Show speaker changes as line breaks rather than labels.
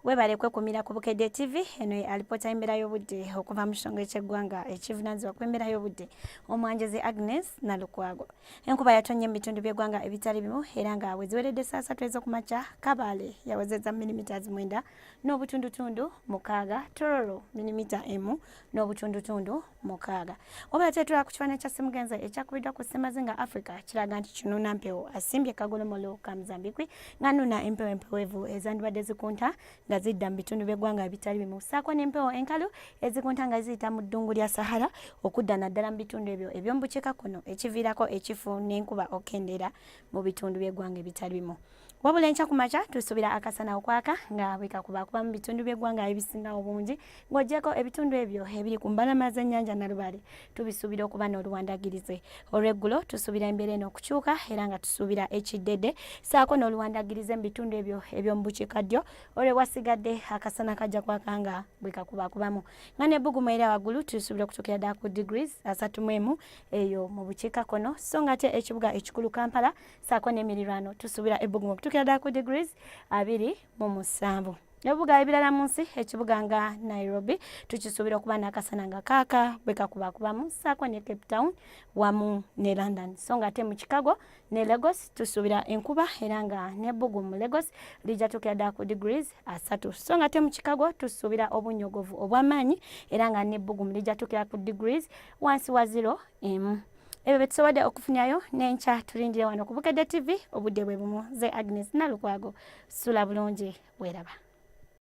webale kwekumira ku bukedde tv eno ye alipoota y'embeera y'obudde okuva mu kisonga eky'eggwanga ekivunaanyizibwa ku embeera y'obudde omwanjozi agnes nalukwago enkuba yatonye mu bitundu by'eggwanga ebitali bimu era nga bwe ziweredde saasatu ez'okumakya kabaale yawezeza milimita zimwenda n'obutundutundu mukaaga tororo milimita emu n'obutundutundu mukaaga wabula kyetula ku kifaananyi kya simugenza ekyakubiddwa ku semazinga africa kiraga nti kinuna mpewo asimbye kagolomolo ka mzambikwi nga nuna empewo empewevu ezandibadde zikunta nga zidda mu bitundu by'eggwanga ebitali bimu saako n'empewo enkalu ezikunta nga ziyita mu ddungu lya sahara okudda naddala mu bitundu ebyo eby'omubukiika kuno ekiviirako ekifu n'enkuba okukendeera mu bitundu by'eggwanga ebitali bimu Wabula enkya ku makya tusuubira akasana okwaka nga bwe kakuba kuba mu bitundu by'eggwanga ebisinga obungi ng'ogyeko ebitundu ebyo ebiri ku mbalama z'ennyanja Nalubaale tubisuubira okuba n'oluwandagirize. Olw'eggulo tusuubira embeera eno okukyuka era nga tusuubira ekiddedde saako n'oluwandagirize mu bitundu ebyo eby'omu bukiikaddyo olwewasigadde akasana kajja kwaka nga bwe kakuba kubamu nga n'ebbugumu era waggulu tusuubira okutuukira ddala ku degrees asatu mu emu eyo mu bukiikakkono so ng'ate ekibuga ekikulu Kampala saako n'emirirwano tusuubira ebbugumu okutuukira ddala ku degrees abiri mu musanvu ebibuga ebirala mu nsi ekibuga nga nairobi tukisuubira okuba n'akasana nga kaaka bwe kakubakubamu saako ne cape town wamu ne london so nga ate mu chicago ne lagos tusuubira enkuba era nga n'ebbugumu lagos lijja tuukira ddala ku degrees asatu so nga te mu chicago tusuubira obunyogovu obw'amaanyi era nga n'ebbugumu lijatukira ku degrees wansi wa zero emu ebyo betusobodde okufunyayo n'enkya tulindire wano ku bukedde tv obudde bwe bumu ze agnes nalukwago sula bulungi weeraba